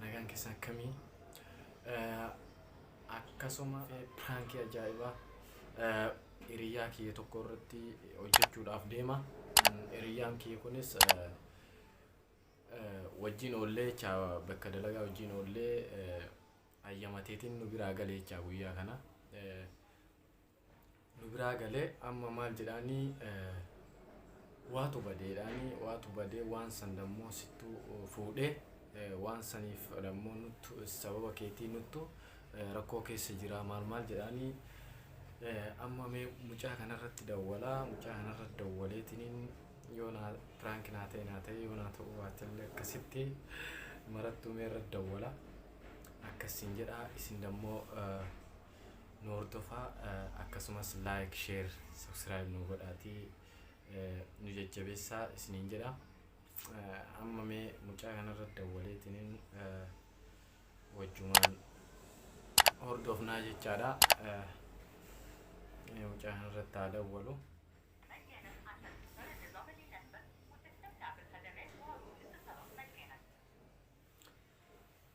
Nagaan keessan akkamii? Akkasuma piraankii ajaa'ibaa hiriyaa kiyya tokko irratti hojjechuudhaaf deema. Hiriyaan kiyya kunis wajjin oollee jecha bakka dalagaa wajjin oollee hayyamateetiin nu biraa galee jecha guyyaa kana. nu biraa galee amma maal jedhaanii waatu badee jedhaanii waatu badee waan san dammoo sittu fuudhee waan saniif dammoo nuttu sababa keetii nuttu rakkoo keessa jiraa maal maal jedhaanii amma mee mucaa kanarratti dawwalaa mucaa kanarratti dawwaleetiniin yoo naa piraanki naa ta'e naa ta'e yoo naa ta'uu baatellee akkasitti marattuu mee irratti dawwala akkasiin jedhaa isin dammoo Nu hordofaa akkasumas like share subscribe nu godhaatii nu jajjabeessaa isiniin jedha amma mee mucaa kanarra dawwaleetiniin wajjumaan hordofnaa jechaadha mee mucaa kanarratti haa dawwalu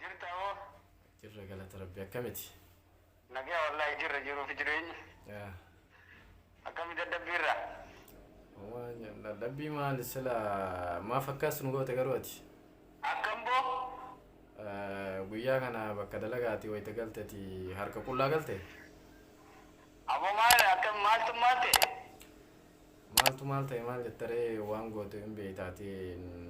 Jirta hoo? Jirra galata rabbi akkamiti? Nagaa wallaahi jirra jiruufi jireenyi. Yaa. Akkami dadhabbii irra? Waan dadhabbii maali sila maaf akkas nu goote garuu ati? Akkam boo? Eh, Guyyaa kana bakka dalagaati wayita galteti harka qullaa galte? Ammoo maal akkam maaltu maal ta'e? Maaltu maal ta'e maal jettaree waan gootu hin beekta ati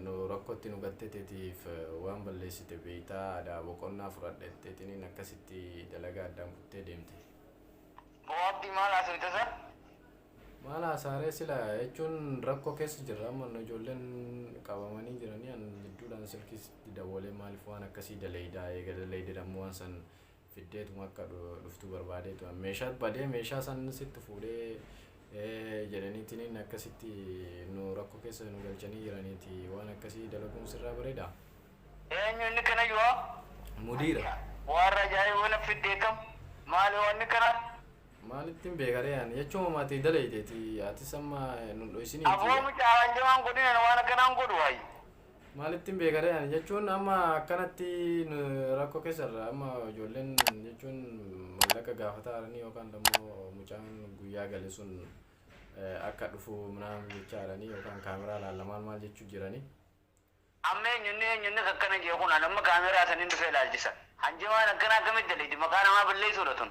nu rakkotti nu gatte tetiif waan balleessite beekta adaa boqonnaa fudhadha jettee xiniin akkasitti dalagaa addaan kuttee deemte. Boo abdi maal haasofte san? Maal haasaaree sila jechuun rakkoo keessa jirra amma nu ijoolleen qabamanii jiranii an jidduudhaan silkiis itti dawwalee maaliif waan akkasii daleeydaa eega daleeydedhammoo waan san fiddeetuma akka dhuftu barbaadee turan meeshaa badee meeshaa san sitti fuudhee jedhaniitiin akkasitti nu rakkoo keessa nu galchanii jiraniiti waan akkasii dalaguun sirraa bareeda. Eenyu inni kana yoo? Mudiira. Waan rajaa'ee waan fiddee kam? Maali waan kana? Maalittiin beekaree ani jechuun maatii dalayteeti atis amma nu dhoysinii. Aboo mucaa waan jamaan godhinan waan akkanaan godhu waayi. Maalittin beekaree ani jechuun amma akkanatti rakkoo keessa irra amma ijoolleen jechuun mallaqa gaafataa jiranii yookaan immoo mucaan guyyaa gale sun akka dhufu minaan jechaa jiranii yookaan kaameraa laalla maal maal jechuu jiranii. Amma eenyunni eenyunni akkana jee kun an amma kaameraa sanin dhufee laalchisa. Hanjamaan akkana akkamitti daleydi maqaa namaa balleessuudha tun.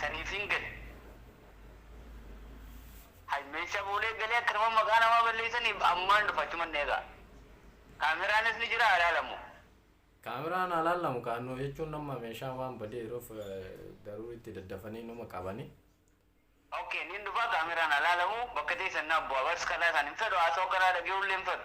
Saniif hin gale. Hay meeshaa boolee galee akka nama maqaa namaa balleessaniif ammaan dhufa achuman eegaa. Kaameraanis ni jira haa laalamu. Kaameraan haa laalamu kaa nu jechuun amma meeshaan waan badee jiruuf garuu itti daddafanii numa qabani. Ok niin dhufaa kaameraan haa laalamu bakka teessan naaf bu'aa bars kalaa isaan hin fedhu haasoo karaa dhage'uu illee hin fedhu.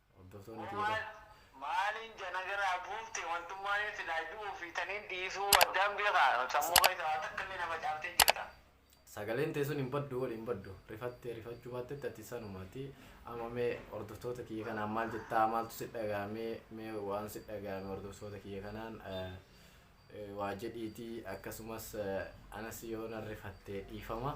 Hordoftoonni kiyya Umar bar. maaliin jana garaa buufte wantummaanin silaa du'uu fi taniin dhiisuu addaan beekaa sammuu keessa waa takka illee na facaaftee jirta. Sagaleen tee sun hin baddu wly hin baddu rifattee rifachuu baattetti ati sanuma ati amma mee hordoftoota kiyya kanaan maal jettaa maaltu si dhagahame mee waan si dhagahame hordoftoota kiyya kanaan waa jedhiitii akkasumas anas yoo nan rifatte dhiifama.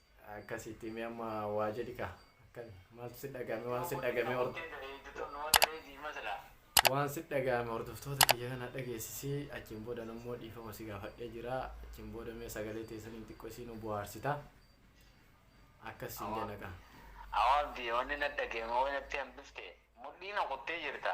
Akkasitti mee amma waa jedhi kaa akkami maaltu si dhaga'ame waan si dhaga'ame hor waan si dhaga'ame hordoftoota kiyya kana dhageessisi achiin booda nammoo dhiifama si gaafadhee jira achiin booda mee sagalee teessaniin xiqqoo isii nu buhaarsita akkas siin jenna kaa. Awaabdi wanni na dhageeme wanatti hambifte mudhii na kuttee jirta.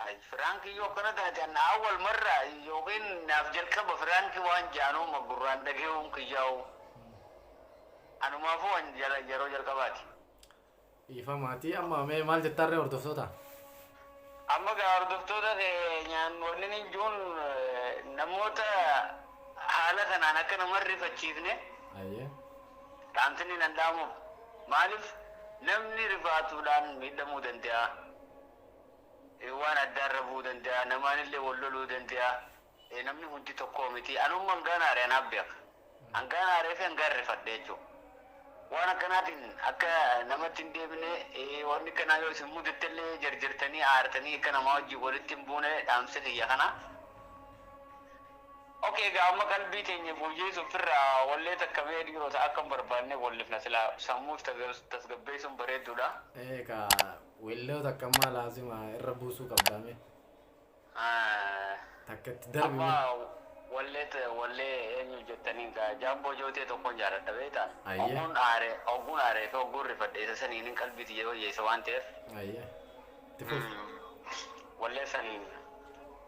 Hay firaanki yoo akkana taate an awwal marra yookiin naaf jalqaba firaanki waan jaanuu ma gurraan dhagehuun kiyyaahuu anumaafuu an yeroo jalqabaati. Dhiifama ati amma mee maal jettaan ree hordoftoota? Amma gaa hordoftoota keenyaan wanni nin juun namoota haala kanaan akka nama hin rifachiifne. Ayyee. Dhaamsinni nan dhaamu maalif namni rifaatuudhaan miidhamuu dande'a, waan addaa irra bu'uu dande'a, namaanillee wal loluu dande'a, namni hundi tokkoo miti. Anumma hangaan aare anaaf beeka. Hangaan aaree fi hangaan rifadhe jechuu. Waan akkanaatiin akka namatti hin deebine, wanni akkanaa yoo isin mudattellee jarjartanii aartanii akka namaa wajjin walitti hin buune dhaamsi kiyya kana. Ok egaa amma qalbii teenya fooyyeessuuf firra wallee takka mee dhiirota akka hin barbaannee wallifna silaa sammuu tasgabbeessuun bareedduudha. Ee kaa welloo takka ammaa laazima irra buusuu qabdaa mee. Takka itti darbi Amma mee. wallee ta- wallee eenyu jettaniin kaa jaamboo jootee tokkoon jaaladha beektaa. Ayyee. Ogguun aare ogguun aaree fi ogguun rifadhe isa saniinin qalbii tiyya wayyeessa waan ta'eef Ayyee. Itti fufi. wallee san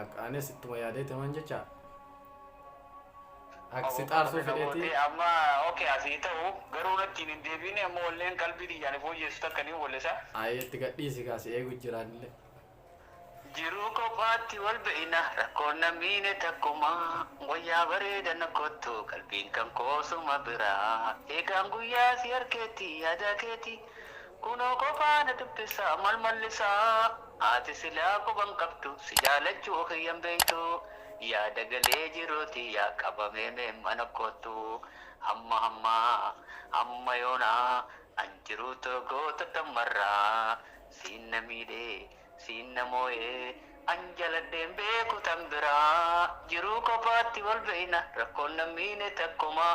Ak- anis ittuma yaadeeti man jecha ak si xaarsuu Qabee na fedheeti gootee amma okay asii ta'u garuu nattiin hin deebiine amma walleen qalbii tiyyaan fooyyeessu takka niin wallisa. ayee itti gadhiisi kaa si eegu jiraanillee Jiruu kophaatti wal beeyna rakkoon na miine takkuma wayyaa bareeda na kottu qalbiin kan koo suma bira eegaan guyyaa si harkeetti yaadaa keeti kunoo kophaa na dubbisa mal mallisaa. Ati silaa quba hin qabdu si jaalachuu kiyya hin beektu Yaada galee jiruu tiyya qabamee mee mana koottu Hamma hamma hamma yoona an jiruu too goota dammarra Siin na miidhe siin na mooye an jaladhee hin beeku tan bira Jiruu kophaatti wal beekna rakkoon nan miine takkumaa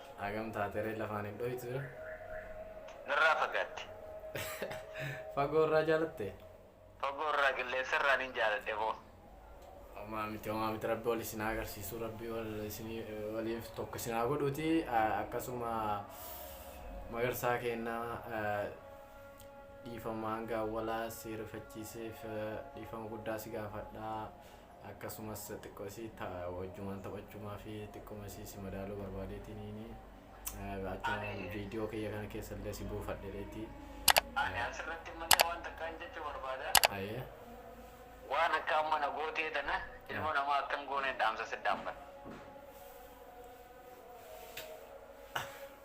Hagam taateree lafaan hin dhoytu. Narraa fagaatte. Fagoo irraa jaalatte. Fagoo irraa qilleensa irraa nin jaaladhe boo. Homaa miti homaa miti rabbi wal isin haa agarsiisu rabbi wal isin waliif tokko isin haa godhuuti Ah, akkasuma magarsaa keenna ah, dhiifama hanga awwalaa si rifachiiseef ah, dhiifama guddaa si gaafadha Akkasumas xiqqo isii ta, wajjumaan taphachumaa fi xiqquma isii si madaaluu barbaadeetiniini achuma viidiyoo kiyya kana keessa illee si buufadhereeti. Ani asirratti malee waan takkaan jechuu barbaada. Ayee. Waan akka amma na gootee tana ilma namaa akka hin gooneen dhaamsa si dhaammata.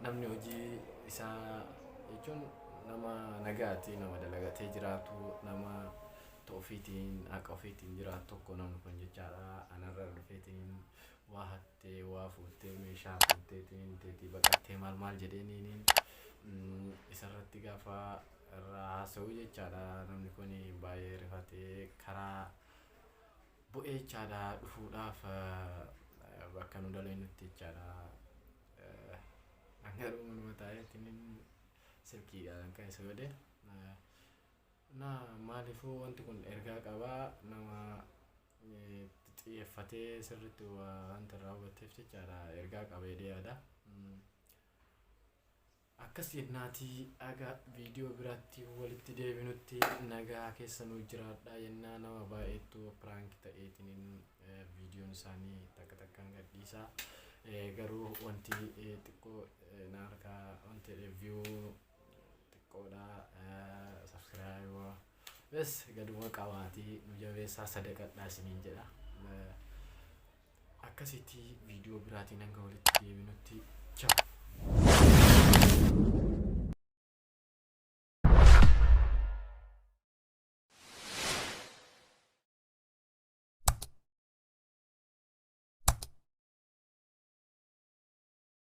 namni hojii isaa jechuun nama nagaati nama dalagatee jiraatu nama ofiitiin haqa ofiitiin jiraatu tokko namni kun jechaadha anarra dhufeetiin waa hattee waa fuuttee meeshaa fuutteetiin teetii baqattee maal maal jedheeniin isarratti gaafa irraa haasa'u jechaadha namni kun baay'ee rifatee karaa bu'eechaadha dhufuudhaaf bakka nu daleenutti jechaadha. An garuu manuma taa'eetiin silkiidhaan kan isa godhe. Na maaliifuu wanti kun ergaa qabaa nama xiyyeeffatee sirriitti wanta irraa hubatteef jechaadha ergaa qaba jedhee yaada. Akkas jennaati haga video biraatti walitti deebinutti nagaa keessa nuu jiraadhaa jennaa nama baay'eettu prank ta'eetiniin videon isaanii takka takkaan gadhiisa garuu wanti xiqqoo na harkaa wanti jedhe view xiqqoodha subscribe bes gaduma qabaatii nu jabeessaa sadaqadhaa isiniin jedha Akkasitti viidiyoo biraatiin hanga walitti deebinutti ciao.